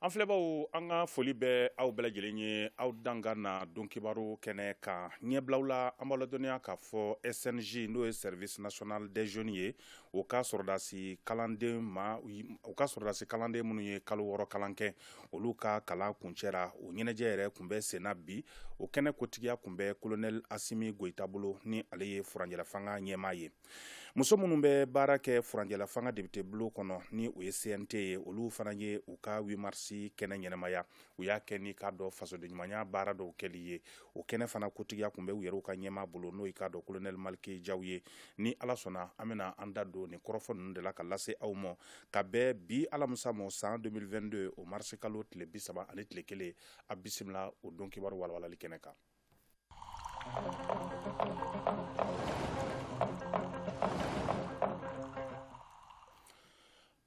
An filɛbaw an ka foli bɛ aw bɛɛ lajɛlen ye aw dan ka na don kibaru kɛnɛ kan ɲɛbilaw la an b'a ladɔnniya k'a fɔ SNJ n'o ye service national des jeunes ye o ka sɔrɔdasi kalanden ma o ka sɔrɔdasi kalanden minnu ye kalo wɔɔrɔ kalan kɛ olu ka kalan kuncɛra o ɲɛnajɛ yɛrɛ kun bɛ senna bi o kɛnɛ kotigiya kun bɛ kolonɛli asimi goyita bolo ni ale ye furanjɛlafanga ɲɛmaa ye muso minnu bɛ baara kɛ furanjɛlafanga depite bulon kɔnɔ ni o ye cnt ye olu fana ye u ka huit mars kɛnɛ ɲɛnamaya u y'a kɛ ni k'a dɔn fasodenɲumanya baara dɔw kɛli ye o kɛnɛ fana kotigiya kun bɛ u yɛrɛw ka ɲɛmaa bolo n'o y'i k'a dɔn kolonɛli maliki jaw ye ni ala sɔnna an bɛna an da don nin kɔrɔfɔ ninnu de la ka lase aw ma ka bɛn bi alamisa ma san 2022 o marisikalo tile bi saba ani tile kelen a bisimila o don kibaru walawalali kɛnɛ kan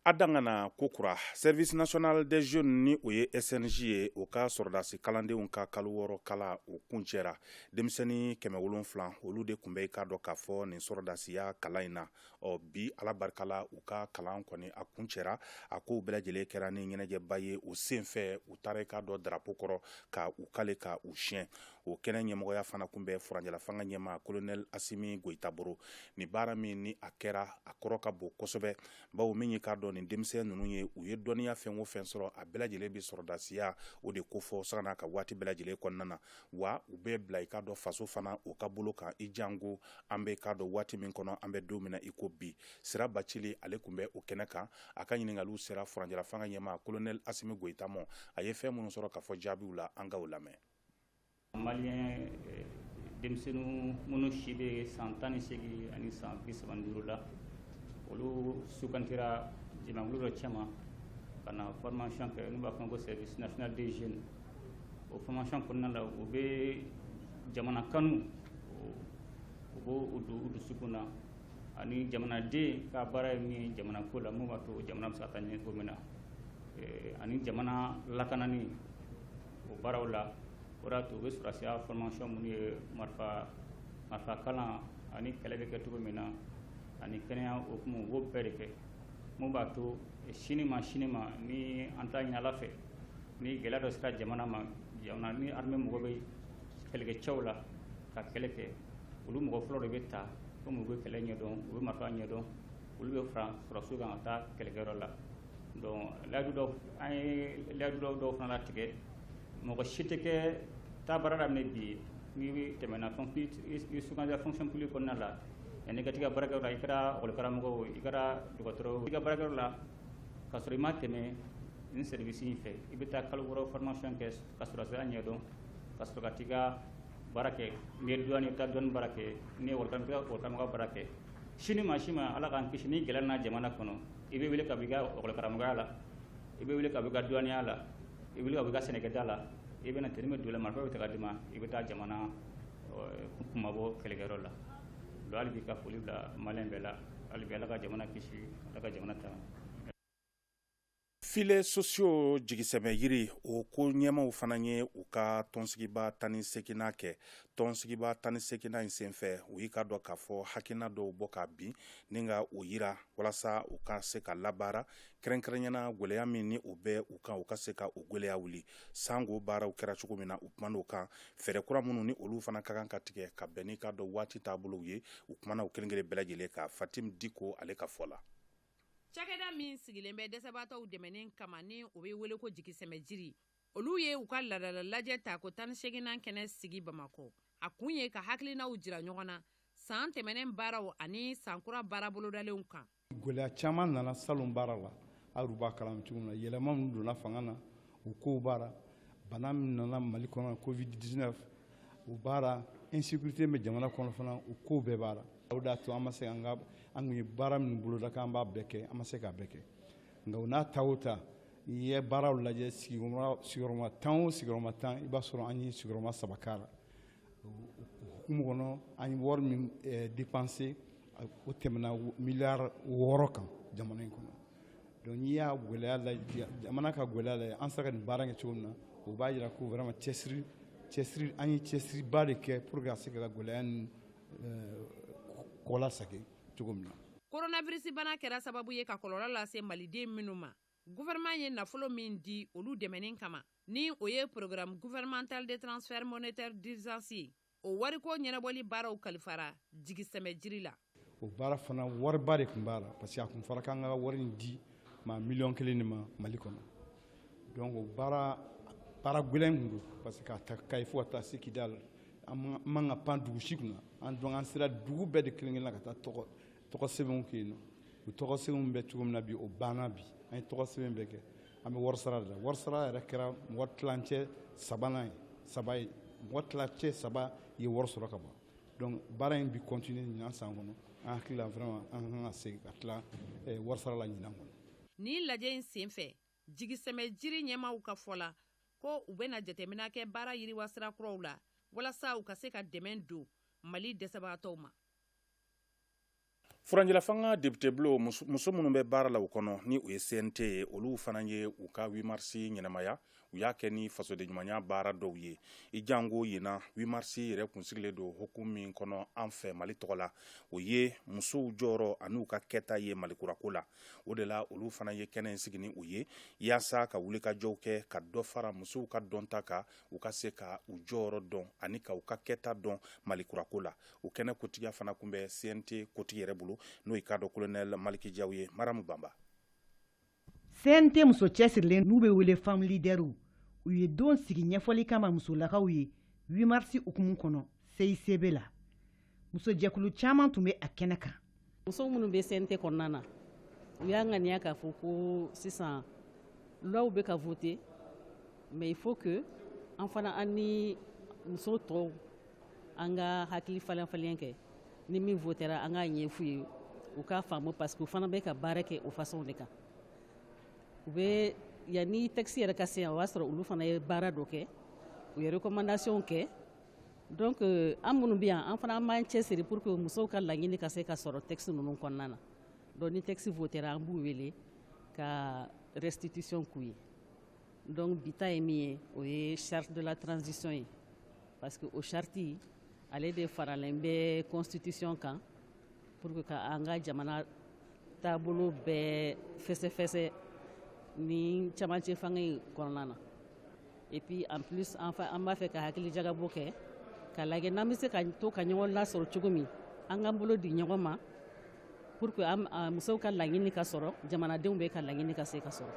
A dan ka na kokura service national des jeunes ni o ye SNJ ye o ka sɔrɔdasi kalandenw ka kalo wɔɔrɔ kalan o kuncɛra denmisɛnnin kɛmɛ wolonfila olu de kun bɛ i k'a dɔn k'a fɔ nin sɔrɔdasiya kalan in na ɔ bi ala barika la u ka kalan kɔni a kuncɛra a kow bɛɛ lajɛlen kɛra ni ɲɛnajɛba ye o senfɛ u taara i k'a dɔn darapo kɔrɔ ka u kale ka u siɲɛ o kɛnɛ ɲɛmɔgɔya fana kun bɛ furanjɛlafanga ɲɛmaa kolonɛli asimi goyita bolo ni baara min ni a kɛra a kɔrɔ ka bon kosɛbɛ bawo min ye k'a dɔn nin denmisɛn ninnu ye u ye dɔnniya fɛn o fɛn sɔrɔ a bɛɛ lajɛlen bɛ sɔrɔdasiya o de kofɔ sanga n'a ka waati bɛɛ lajɛlen kɔnɔna na wa u bɛ bila i k'a dɔn faso fana o ka bolo kan i janko an bɛ k'a dɔn waati min kɔnɔ an bɛ don min na i ko bi sira bacili ale kun bɛ o kɛnɛ kan a ka ɲininkaliw sera furanjɛlafanga ɲɛmaa kolonɛli asimi goyita ma a ye fɛn minnu sɔrɔ ka fɔ jaabiw la an ka o lamɛn Malien eh, denmisɛnninw minnu si bɛ san tan ni seegin ani san bi saba ni duuru la olu sugandira jamakulu dɔ cɛma ka na formation kɛ n'u b'a fɔ ko service national des jeunes o formation kɔnɔna la u bɛ jamana kanu u b'o don u dusukun na ani jamanaden ka baara ye min ye jamana ko la mun b'a to jamana bɛ se ka taa ɲɛ cogo min na eh, ani jamana lakanani o baaraw la o de y'a to u bɛ sɔrɔdasiya formation minnu ye marifa kalan ani kɛlɛ bɛ kɛ cogo min na ani kɛnɛya hukumu u b'o bɛɛ de kɛ mun b'a to sini ma sini ma ni an t'a ɲini ala fɛ ni gɛlɛya dɔ sera jamana ma ni armée mago bɛ kɛlɛkɛcɛw la ka kɛlɛ kɛ olu mɔgɔ fɔlɔ de bɛ ta komi u bɛ kɛlɛ ɲɛdɔn u bɛ marifa ɲɛdɔn olu bɛ fara sɔrɔdasiw kan ka taa kɛlɛkɛyɔrɔ la donc layidu dɔw an ye layidu dɔw dɔw fana latigɛ mɔgɔ si tɛ kɛ taa baara daminɛ bi n'i tɛmɛna i sugandira fonction publique kɔnɔna la yanni ka t'i ka baarakɛyɔrɔ la i kɛra ekɔlikaramɔgɔ o i kɛra dɔgɔtɔrɔ o i ka baarakɛyɔrɔ la k'a sɔrɔ i ma tɛmɛ nin service in fɛ i bɛ taa kalo wɔɔrɔ formation kɛ ka sɔrɔdasiya ɲɛdɔn ka sɔrɔ ka t'i ka baara kɛ n'i ye douane i bɛ taa douane baara kɛ n'i ye ekɔlikaramɔgɔ baara kɛ sini ma si ma ala k'an kisi ni gɛlɛya nana jamana kɔnɔ i bɛ wele ka bɔ i ka ekɔlikaramɔgɔya la i bɛ wele ka bɔ i ka duwaniya la i bɛ wele ka bɔ i ka sɛnɛkɛda la i bɛ na tenue bɛ don i la marifa bɛ ta ka d'i ma i bɛ taa jamana kumabɔ kɛlɛkɛyɔrɔ la donc hali bi ka foli bila malien bɛɛ la hali bi ala ka jamana kisi ala ka jamana tanga filets sociaux jigisɛmɛ jiri o ko ɲɛmaaw fana ye u ka tɔnsigiba tan ni seginnan kɛ tɔnsigiba tan ni seginnan in senfɛ u y'i k'a dɔn k'a fɔ hakilina dɔw bɔ ka bin ni ka o yira walasa u ka se ka labaara kɛrɛnkɛrɛnyana gwɛlɛya min ni o bɛ u kan u ka se ka o gwɛlɛya wuli sango baaraw kɛra cogo min na u kuman'o kan fɛɛrɛ kura minnu ni olu fana ka kan ka tigɛ ka bɛn n'i k'a dɔn waati taabolow ye u kumana o kelen kelen bɛɛ lajɛlen kan fatim diko ale ka fɔ la cakɛda min sigilen bɛ dɛsɛbaatɔw dɛmɛni kama ni o bɛ wele ko jigisɛmɛ jiri olu ye u ka laadala lajɛ tako tan ni seginnan kɛnɛ sigi bamakɔ a kun ye ka hakilinaw jira ɲɔgɔn na san tɛmɛnen baaraw ani sankura baara bolodalenw kan gwɛlɛya caman nana salon baara la aw b'a kalama cogo min na yɛlɛma min donna fanga na o kow b'a ra bana min nana mali kɔnɔ covid 19 o b'a ra insécurité bɛ jamana kɔnɔ fana o kow bɛɛ b'a ra o de y'a to an ma se an ka an kun ye baara min boloda k'an b'a bɛɛ kɛ an ma se k'a bɛɛ kɛ nka o n'a ta o ta N'i ye baaraw lajɛ sigiyɔrɔma tan o sigiyɔrɔma tan i b'a sɔrɔ an ye sigiyɔrɔma saba k'a la hukumu kɔnɔ an ye wari min dépensé o tɛmɛna miliyari wɔɔrɔ kan jamana in kɔnɔ donc n'i y'a gwɛlɛya jamana ka gwɛlɛya lajɛ an sera ka nin baara kɛ cogo min na o b'a jira ko vraiment cɛsiri cɛsiri an ye cɛsiriba de kɛ pour que a se ka gwɛlɛya nin kɔ lasagi cogo min na coronavirus bana kɛra sababu ye ka kɔlɔlɔ lase maliden minnu ma Gouvernement ye nafolo min di olu dɛmɛni kama, ni o ye Programme gouvernemental de transfert monétaire d'urgence ye, o wariko ɲɛnabɔli baaraw kalifara jigisɛmɛ jiri la. O baara fana wariba de tun b'a la parce que a tun fɔra k'an ka wari in di maa miliyɔn kelen de ma Mali kɔnɔ. Donc o baara baara gwɛlɛn kun don parce que k'a ta Kayi fo ka taa se Kidali, an man ka pan dugu si kunna. An donc an sera dugu bɛɛ de kelen-kelen na ka taa tɔgɔ tɔgɔ sɛbɛnw kɛ yen nɔ u tɔgɔ sɛbɛnw bɛ cogo min na bi o banna bi an ye tɔgɔ sɛbɛn bɛɛ kɛ an bɛ warisara de la warisara yɛrɛ kɛra mɔgɔ tilancɛ sabanan ye saba ye mɔgɔ tilancɛ saba ye wari sɔrɔ ka ban donc baara in bi continuer ɲinan san kɔnɔ an hakili la vraiment an ka kan ka segin ka tila eh, warisara la ɲinan kɔnɔ nin lajɛ in senfɛ jigisɛmɛ jiri ɲɛmaaw ka fɔ la ko u bɛna jateminɛ kɛ baara yiriwasira kuraw la walasa u ka se ka dɛmɛ don mali dɛsɛbagatɔw ma Fanga depite bulon muso minnu bɛ baara la o kɔnɔ ni o ye CNT ye olu fana ye u ka huit mars ɲɛnamaya u y'a kɛ ni fasodenɲumanya baara dɔw ye i janko ɲinan huit mars yɛrɛ kun sigilen don hukumu min kɔnɔ an fɛ mali tɔgɔ la o ye musow jɔyɔrɔ ani u ka kɛta ye mali kurako la o de la olu fana ye kɛnɛ in sigi ni o ye yaasa ka wulikajɔw kɛ ka dɔ fara musow ka dɔnta kan u ka se ka u jɔyɔrɔ dɔn ani ka u ka kɛta dɔn mali kurako la o kɛnɛ kotigiya fana tun bɛ CNT kotigi yɛrɛ bolo n'o y'i k'a dɔn kolonɛli maliki jaw ye maramu banba CNT muso cɛsirilen n'u bɛ wele femme leaderw u ye don sigi ɲɛfɔli kama musolakaw ye huit mars hukumu kɔnɔ CICB la musojɛkulu caman tun bɛ a kɛnɛ kan muso minnu bɛ CNT kɔnɔna na u y'a ŋaniya k'a fɔ ko sisan loi bɛ ka voter mais il faut que an fana an ni muso tɔw an ka hakili falenfalen kɛ ni min votera an k'a ɲɛf'u ye u k'a faamu parce que u fana bɛ ka baara kɛ o façon de kan u bɛ yanni texte yɛrɛ ka se yan o b'a sɔrɔ olu fana ye baara dɔ kɛ u ye recommandation kɛ donc euh, an minnu bɛ yan an fana an b'an cɛsiri pour que musow ka laɲini ka se ka sɔrɔ texte ninnu kɔnɔna na donc ni texte votera an b'u wele ka restitution k'u ye donc bi ta ye min ye o ye charte de la transition ye parce que o charte ale de faralen bɛ constitution kan Pour que ka an ka jamana taabolo bɛɛ fɛsɛfɛsɛ nin camancɛ fanga in kɔnɔna na et puis en plus an fa- an b'a fɛ ka hakili jagabɔ kɛ k'a lajɛ n'an bɛ se ka to ka ɲɔgɔn lasɔrɔ cogo min an k'an bolo di ɲɔgɔn ma pour que an a musow ka laɲini ka sɔrɔ jamanadenw bɛɛ ka laɲini ka se ka sɔrɔ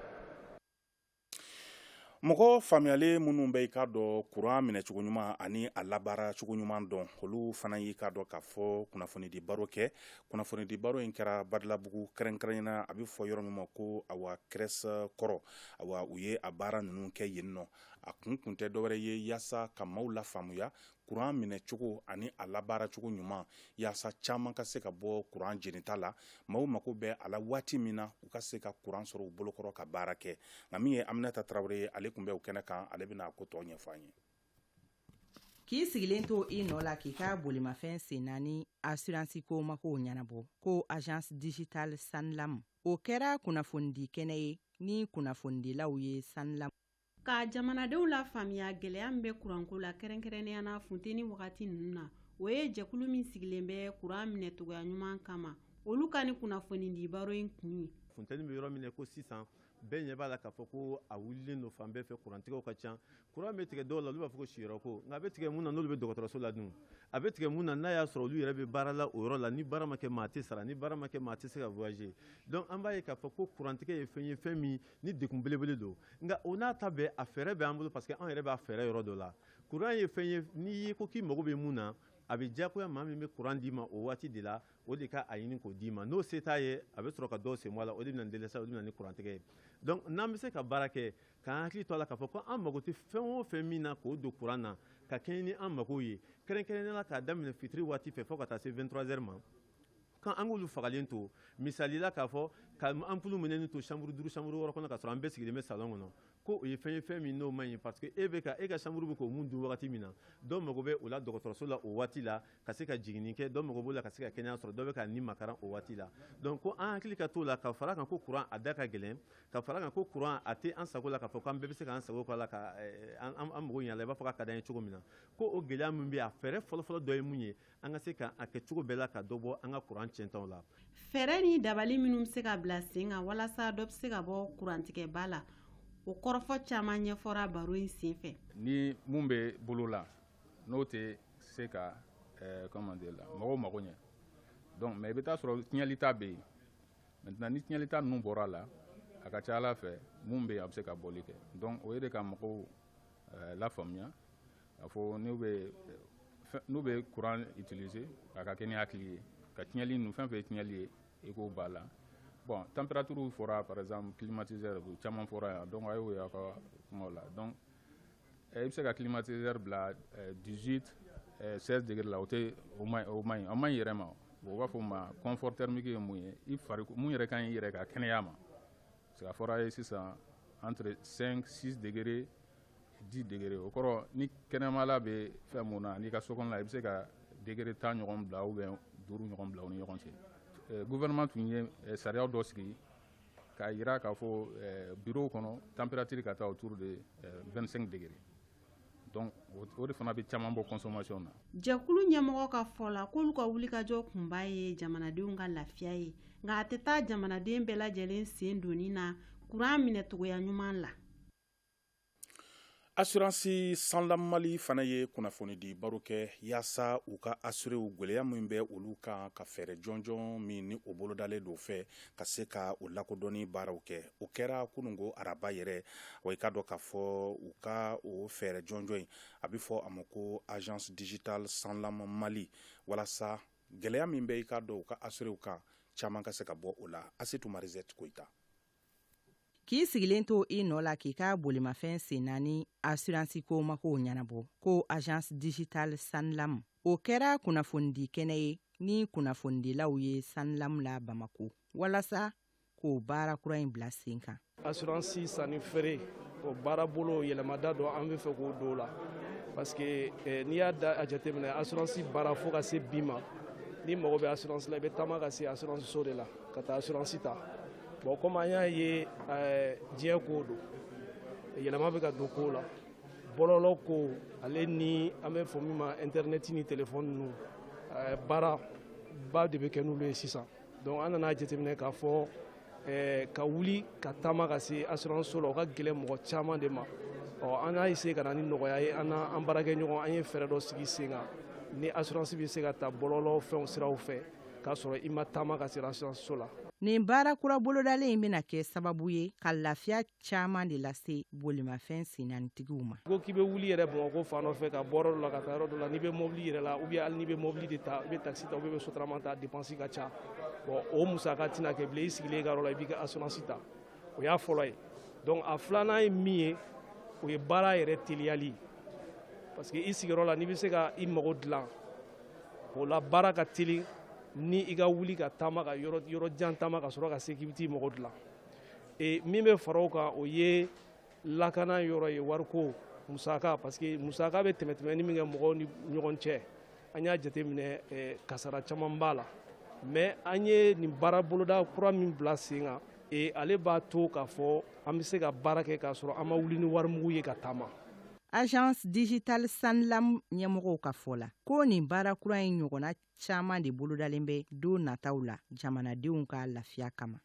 mɔgɔ faamuyalen minnu bɛ i k'a dɔn kuran minɛcogo ɲuman ani a labaara cogo ɲuman dɔn olu fana y'i k'a dɔn k'a fɔ kunnafonidi baro kɛ kunnafonidi baro in kɛra badalabugu kɛrɛnkɛrɛnnen na a bɛ fɔ yɔrɔ min ma ko awa CRES kɔrɔ awa u ye a baara ninnu kɛ yen nɔ a kun kun tɛ dɔwɛrɛ ye yaasa ka maaw lafaamuya kuran minɛcogo ani a labaaracogo ɲuman yaasa caman ka se ka bɔ kuran jenita la maaw mako bɛ a la waati min na u ka se ka kuran sɔrɔ u bolokɔrɔ ka baara kɛ nka min ye aminata tarawele ye ale tun bɛ o kɛnɛ kan ale bɛna a ko tɔ ɲɛfɔ an ye k'i sigilen to i nɔ la k'i ka bolimafɛn sen naani asiransi ko makow ɲɛnabɔ ko agence digitale sanlam o kɛra kunnafonidi kɛnɛ ye ni kunnafonidilaw ye sanlam ka jamanadenw lafaamuya gɛlɛya min bɛ kuranko la kɛrɛnkɛrɛnnenya na funteni wagati ninnu na o ye jɛkulu min sigilen bɛ kuran minɛcogoya ɲuman kama olu ka nin kunnafonidi baro in kun ye funteni bɛ yɔrɔ min ko sisan bɛɛ ɲɛ b'a la k'a fɔ ko a wulilen don fan bɛɛ fɛ kurantigɛw ka ca kuran bɛ tigɛ dɔw la olu b'a fɔ ko siyɔrɔ ko nka a bɛ tigɛ mun na n'olu bɛ dɔgɔtɔrɔso la dun a bɛ tigɛ mun na n'a y'a sɔrɔ olu yɛrɛ bɛ baara la o yɔrɔ la ni baara ma kɛ maa tɛ sara ni baara ma kɛ maa tɛ se ka voyager donc an b'a ye k'a fɔ ko kurantigɛ ye fɛn ye fɛn min ni degun belebele don nka o n'a ta bɛɛ a fɛɛrɛ bɛ an bolo parce que an yɛrɛ b'a fɛɛrɛ yɔrɔ dɔ la kuran ye fɛn ye n'i ye ko k'i mago bɛ mun na a bɛ diyagoya maa min bɛ kuran d'i ma o waati de la o de ka a ɲini k'o d'i ma n'o se t'a ye a bɛ sɔrɔ ka dɔw sen bɔ a la o de bɛna dɛsɛ o de bɛ na ni kurantigɛ ye donc n'an bɛ se ka baara kɛ k'an hakili to a la k'a fɔ ko an mago tɛ fɛn o fɛn min na k'o don kuran na ka kɛɲɛ ni an mago ye kɛrɛnkɛrɛnnenya la k'a daminɛ fitiri waati fɛ fo ka taa se 23 heures ma K'an k'olu fagalen to misali la k'a fɔ ka ampulu minɛnen to chambre 5 chambre 6 kɔnɔ k'a sɔrɔ an bɛɛ sigilen bɛ salon kɔnɔ ko o ye fɛn ye fɛn min n'o man ɲi parce que e bɛ ka e ka chambre bɛ ka mun dun wagati min na dɔ mago bɛ o la dɔgɔtɔrɔso la o waati la ka se ka jiginni kɛ dɔ mago b'o la ka se ka kɛnɛya sɔrɔ dɔ bɛ ka nimakaran o waati la donc ko an hakili ka t'o la ka fara kan ko courant a da ka gɛlɛn ka fara kan ko courant a tɛ an sago la k'a fɔ k'an bɛɛ bɛ se k'an sago k'a la ka eh, an mago ɲɛ la i b'a fɔ k'a ka d'an ye cogo min na ko o gɛlɛya min bɛ yen a fɛɛrɛ fɔlɔfɔlɔ dɔ ye mun ye an ka se ka a kɛ cogo bɛɛ la ka dɔ bɔ an ka kuran tiɲɛtaw la fɛɛrɛ ni dabali minnu bɛ se ka bila sen kan walasa dɔ bɛ se ka bɔ kurantigɛba la o kɔrɔfɔ caman ɲɛfɔra baro in sen fɛ ni mun bɛ bolo la n'o tɛ se ka eh, comment dire la mɔgɔw mago ɲɛ donc mais i bɛ taa sɔrɔ tiɲɛlita bɛ yen maintenant ni tiɲɛlita ninnu bɔra a la a ka ca a la fɛn mun bɛ yen a bɛ se ka bɔli kɛ donc o ye de ka mɔgɔw eh, lafaamuya A fɔ n'u bɛ n'u bɛ kuran utiliser a ka kɛ ni hakili ye ka tiɲɛli ninnu fɛn fɛn ye tiɲɛli ye i k'o b'a la bon température fɔra par exemple climatiseur caman fɔra yan donc a y'o y'a ka kuma la donc i bɛ se ka climatiseur bila 18 16 degrés la o tɛ o man ɲi a man ɲi i yɛrɛ ma o b'a fɔ ma confort thermique ye mun ye i fari mun yɛrɛ ka ɲi i yɛrɛ ka kɛnɛya ma Parce que a fɔra ye sisan entre 5 6 degrés 10 degrés o kɔrɔ ni kɛnɛmala bɛ fɛn mun na n'i ka so kɔnɔla i bɛ se ka degré tan ɲɔgɔn bila ou bien duuru ɲɔgɔn bila u ni ɲɔgɔn cɛ gouvernement tun ye sariya dɔ sigi k'a jira k'a fɔ bureau kɔnɔ température ka taa autour de 25 degrés donc o de fana bɛ caman bɔ consommation na. jɛkulu ɲɛmɔgɔ ka fɔ la k'olu ka wulikajɔ kunba ye jamanadenw ka lafiya ye nka a tɛ taa jamanaden bɛɛ lajɛlen sen donni na kuran minɛcogoya ɲuman la. asiransi sanlam mali fana ye kunnafonidi baro kɛ yaasa u ka asirew gwɛlɛya min bɛ olu kan ka fɛɛrɛ jɔnjɔn min ni o bolodalen don fɛ ka se ka o lakodɔnni baaraw kɛ o kɛra kunungo araba yɛrɛ wa i k'a dɔn k'a fɔ u ka o fɛɛrɛ jɔnjɔn in a bɛ fɔ a ma ko agence digitale sanlam mali walasa gɛlɛya min bɛ i k'a dɔn u ka asirew kan caman ka se ka bɔ o la asetu marizette koyita k'i sigilen to i nɔ la k'i ka bolimafɛn sen naani asiransi ko mako ɲɛnabɔ ko agence digitale sanlam o kɛra kunnafonidi kɛnɛ ye ni kunnafonidilaw ye sanlam la bamakɔ walasa k'o baara kura in bila sen kan asiransi sanni feere o baarabolo yɛlɛmada dɔ an bɛ fɛ k'o don o la parce que eh, n'i y'a da a jateminɛ asiransi baara fo ka se bi ma n'i mago bɛ asiransi la i bɛ taama ka se asiransi so de la ka taa asiransi ta bon komi an y'a ye eh, diɲɛ kow don yɛlɛma bɛ ka don kow la bɔlɔlɔ ko ale ni an bɛ fɔ min ma intɛrɛnɛti ni telefɔni ninnu eh, baara ba de bɛ kɛ n'olu ye sisan donc an nana a jateminɛ k'a fɔ eh, ka wuli ka taama ka se assurance so la o ka gɛlɛ mɔgɔ caman de ma ɔ an y'a essayé ka na ni nɔgɔya ye an n'an baarakɛɲɔgɔn an ye fɛɛrɛ dɔ sigi sen kan ni assurance bɛ se ka ta bɔlɔlɔ fɛnw siraw fɛ k'a sɔrɔ i ma taama ka se assurance so la nin baara kura bolodalen in bɛna kɛ sababu ye ka lafiya caman de lase bolimafɛn sennaanitigiw ma. Ko k'i bɛ wuli yɛrɛ Bamakɔ fan dɔ fɛ ka bɔ yɔrɔ dɔ la ka taa yɔrɔ dɔ la, n'i bɛ mɔbili yɛrɛ la ou bien hali n'i bɛ mɔbili de ta, i bɛ taxi ta ou bien i bɛ sotarama ta, a dépense ka ca. Bon o musaka tɛna kɛ bilen, i sigilen i ka yɔrɔ la, i b'i ka assurance ta. O y'a fɔlɔ ye. Donc a filanan ye min ye, o ye baara yɛrɛ teliyali. Parce que i sigiyɔrɔ la, n'i bɛ se ka i mago dilan, o la baara ka teli ni i ka wuli ka taama ka yɔrɔ yɔrɔ jan taama ka sɔrɔ ka se k'i bɛ t'i mago dilan. e min bɛ fara o kan o ye lakana yɔrɔ ye wariko musaka parce que musaka bɛ tɛmɛtɛmɛni min kɛ mɔgɔw ni ɲɔgɔn cɛ an y'a jateminɛ e, kasara caman b'a la mais an ye nin baara boloda kura min bila sen kan e, ale b'a to k'a fɔ an bɛ se ka baara kɛ k'a sɔrɔ an ma wuli ni warimugu ye ka taama agence digitale sanlam ɲɛmɔgɔw ka fɔ la ko nin baara kura in ɲɔgɔnna caman de bolodalen bɛ don nataw la jamanadenw ka lafiya kama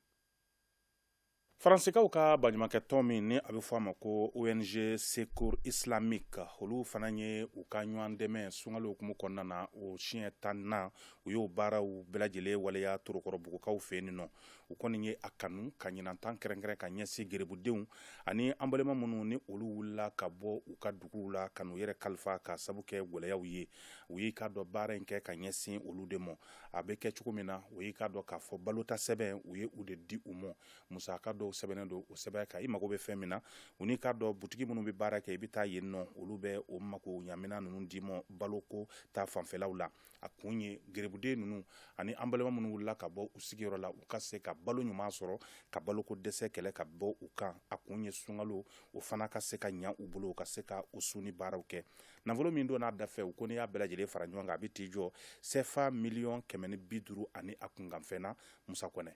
Faransikaw ka baɲumankɛ tɔn min ni a bɛ fɔ a ma ko ONG Secours Islamique olu fana ye u ka ɲɔgɔn dɛmɛ sunkalo hukumu kɔnɔna na o siɲɛ tan na u y'o baaraw bɛɛ lajɛlen waleya Torokɔrɔbugukaw fɛ yen nɔ u kɔni ye a kanu ka ɲinan ta kɛrɛnkɛrɛn ka ɲɛsin gerebudenw ani an balima minnu ni olu wulila ka bɔ u ka duguw la ka n'u yɛrɛ kalifa k'a sabu kɛ gɛlɛyaw ye u y'i k'a dɔn baara in kɛ ka ɲɛsin olu de ma a bɛ kɛ cogo min na o y'i k'a dɔn k'a fɔ balota sɛbɛn u ye u de di u ma musaka dɔw sɛbɛnnen don o sɛbɛn kan i mago bɛ fɛn min na u n'i k'a dɔn butigi minnu bɛ baara kɛ i bɛ taa yen nɔ olu bɛ o makoɲaminan ninnu d'i ma baloko ta fanfɛlaw la a kun ye gerebuden ninnu ani an balima minnu wulila ka bɔ u sigiyɔrɔ la u ka se ka balo ɲuman sɔrɔ ka baloko dɛsɛ kɛlɛ ka bɔ u kan a kun ye sunkalo o fana ka se ka ɲa u bolo u ka se ka u sun ni baaraw kɛ nafolo min donn'a dafɛ u ko n'i y'a bɛɛ lajɛlen fara ɲɔgɔn kan a bɛ t'i jɔ sefa miliyɔn kɛmɛ ni bi duuru ani a kunkanfɛn na musa kɔnɛ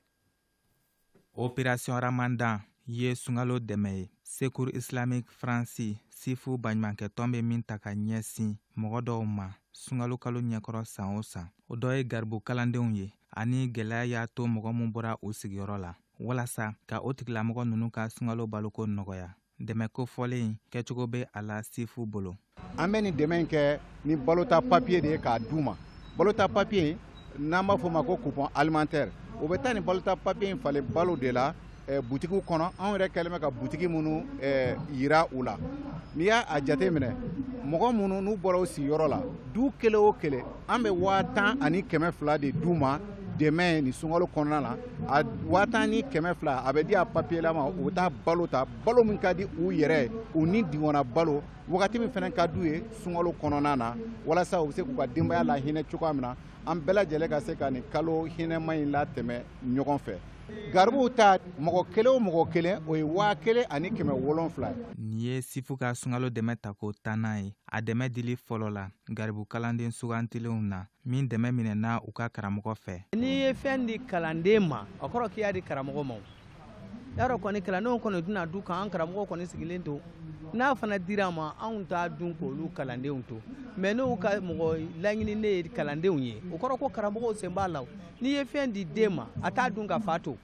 opération ramadan ye sunkalo dɛmɛ ye secours islamique faransi sifu baɲumankɛtɔn bɛ min ta ka ɲɛsin mɔgɔ dɔw ma sunkalo kalo ɲɛkɔrɔ san o san o dɔ ye garibu kalandenw ye ani gɛlɛya y'a to mɔgɔ min bɔra u sigiyɔrɔ la walasa ka o tigilamɔgɔ ninnu ka sunkalo baloko nɔgɔya dɛmɛ kofɔlen kɛcogo bɛ a la sifu bolo an bɛ nin dɛmɛ in kɛ ni balota papiye de ye k'a d'u ma balota papiye n'an b'a fɔ ma ko coupon alimentaire o bɛ taa ni balota papiye in falen balo de la eh, butigiw kɔnɔ anw yɛrɛ kɛlen bɛ ka butigi minnu eh, yira u la n'i y'a a jate minɛ mɔgɔ minnu n'u bɔra u sigiyɔrɔ la du kelen o kelen an bɛ waa tan ani kɛmɛ fila de d'u ma dɛmɛ nin sunkalo kɔnɔna na a waa tan ni kɛmɛ fila a bɛ di a papiye lama u taa balo ta balo min ka di u yɛrɛ u nidungɔnna balo wagati min fana ka d'u ye sunkalo kɔnɔna na walasa u bɛ se k'u ka denbaya lahinɛ cogoya min na an bɛɛ lajɛlen ka se ka nin kalo hinɛma in latɛmɛ ɲɔgɔn fɛ garibuw ta mɔgɔ kelen o mɔgɔ kelen o ye waa kelen ani kɛmɛ wolonfila ye nin ye sifu ka sunkalo dɛmɛ tako tannan ye a dɛmɛ dili fɔlɔ la garibu kalanden sugantilenw na min dɛmɛ minɛna u ka karamɔgɔ fɛ n'i ye fɛn di kalanden ma o kɔrɔ k'i y'a di karamɔgɔ ma y'a dɔn kɔni kalandenw kɔni tɛn'a dun ka an karamɔgɔ kɔni sigilen to n'a fana dir'an ma anw t'a dun k'olu kalandenw to mais n'u ka mɔgɔ laɲininen ye kalandenw ye o kɔrɔ ko karamɔgɔw sen b'a la n'i ye fɛn di den ma a t'a dun ka fa to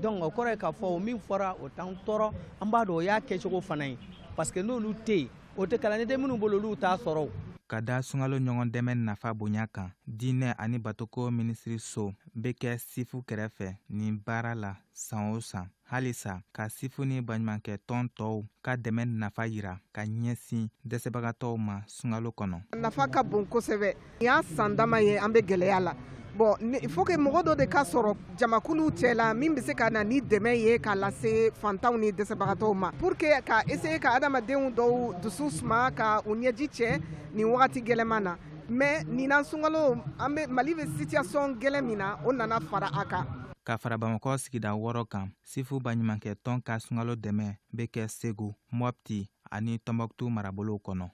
donc o kɔrɔ ye k'a fɔ o min fɔra o t'an tɔɔrɔ an b'a dɔn o y'a kɛcogo fana ye parce que n'olu tɛ yen o tɛ kalanden minnu bolo olu t'a sɔrɔ ka da sunkalo ɲɔgɔn dɛmɛ nafa bonya kan diinɛ ani batoko minisiriso bɛ kɛ sifu kɛrɛfɛ nin baara la san o san halisa ka sifu ni baɲumankɛ tɔn tɔw ka dɛmɛ nafa yira ka ɲɛsin dɛsɛbagatɔw ma sunkalo kɔnɔ nafa ka bon kosɛbɛ Nin y'a san dama ye an bɛ gɛlɛya la bon il faut que mɔgɔ dɔ de ka sɔrɔ jamakuluw cɛ la min bɛ se ka na ni dɛmɛ ye k'a lase fantanw ni dɛsɛbagatɔw ma pour que ka essayer ka adamadenw dɔw dusu suma ka u ɲɛji cɛ nin wagati gɛlɛnman na mais nin na sunkalo an bɛ mali bɛ situation gɛlɛn min na o nana fara a kan ka fara bamakɔ sigida wɔɔrɔ kan sifu baɲumankɛ tɔn ka sunkalo dɛmɛ bɛ kɛ segu mɔpti ani tɔnbɔkutu marabolow kɔnɔ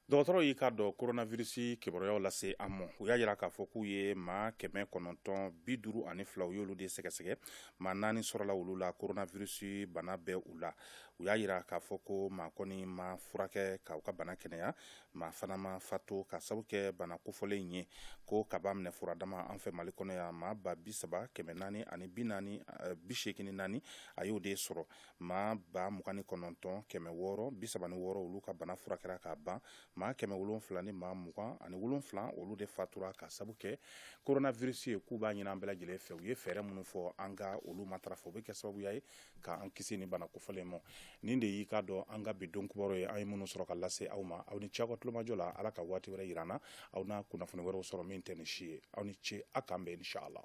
Dɔgɔtɔrɔ y'i k'a dɔn koronavirisi kibaruyaw lase an ma u y'a jira k'a fɔ k'u ye maa kɛmɛ kɔnɔntɔn bi duuru ani fila u y'olu de sɛgɛsɛgɛ maa naani sɔrɔla olu la koronavirisi bana bɛ u la u y'a jira k'a fɔ ko maa kɔni ma furakɛ k'u ka bana kɛnɛya maa fana ma fatu ka sabu kɛ bana kofɔlen ye ko ka b'a minɛ furadama an fɛ mali kɔnɔ yan maa ba bi saba kɛmɛ naani ani bi naani eh, bi seegin ni naani a y'o de sɔrɔ maa ba mugan ni kɔnɔntɔn kɛmɛ wɔɔrɔ bi saba ni wɔɔrɔ olu ka bana furakɛra k'a ban maa kɛmɛ wolonwula ni maa mugan ani wolonwula olu de fatura ka sabu kɛ kona visi ye k'u b'a ɲini an bɛɛ lajɛlen fɛ u ye fɛɛrɛ minnu fɔ an ka olu matarafa o bɛ kɛ sababuya ye k'an kisi nin bana kofɔlen ma nin de y'i k'a dɔn an ka bi don kibaru ye an ye minnu sɔrɔ ka lase aw ma aw ni ce aw ka tulomajɔ la ala ka waati wɛrɛ jira an na aw na kunnafoni wɛrɛw sɔrɔ min tɛ nin si ye aw ni ce aw k'an bɛn inshallah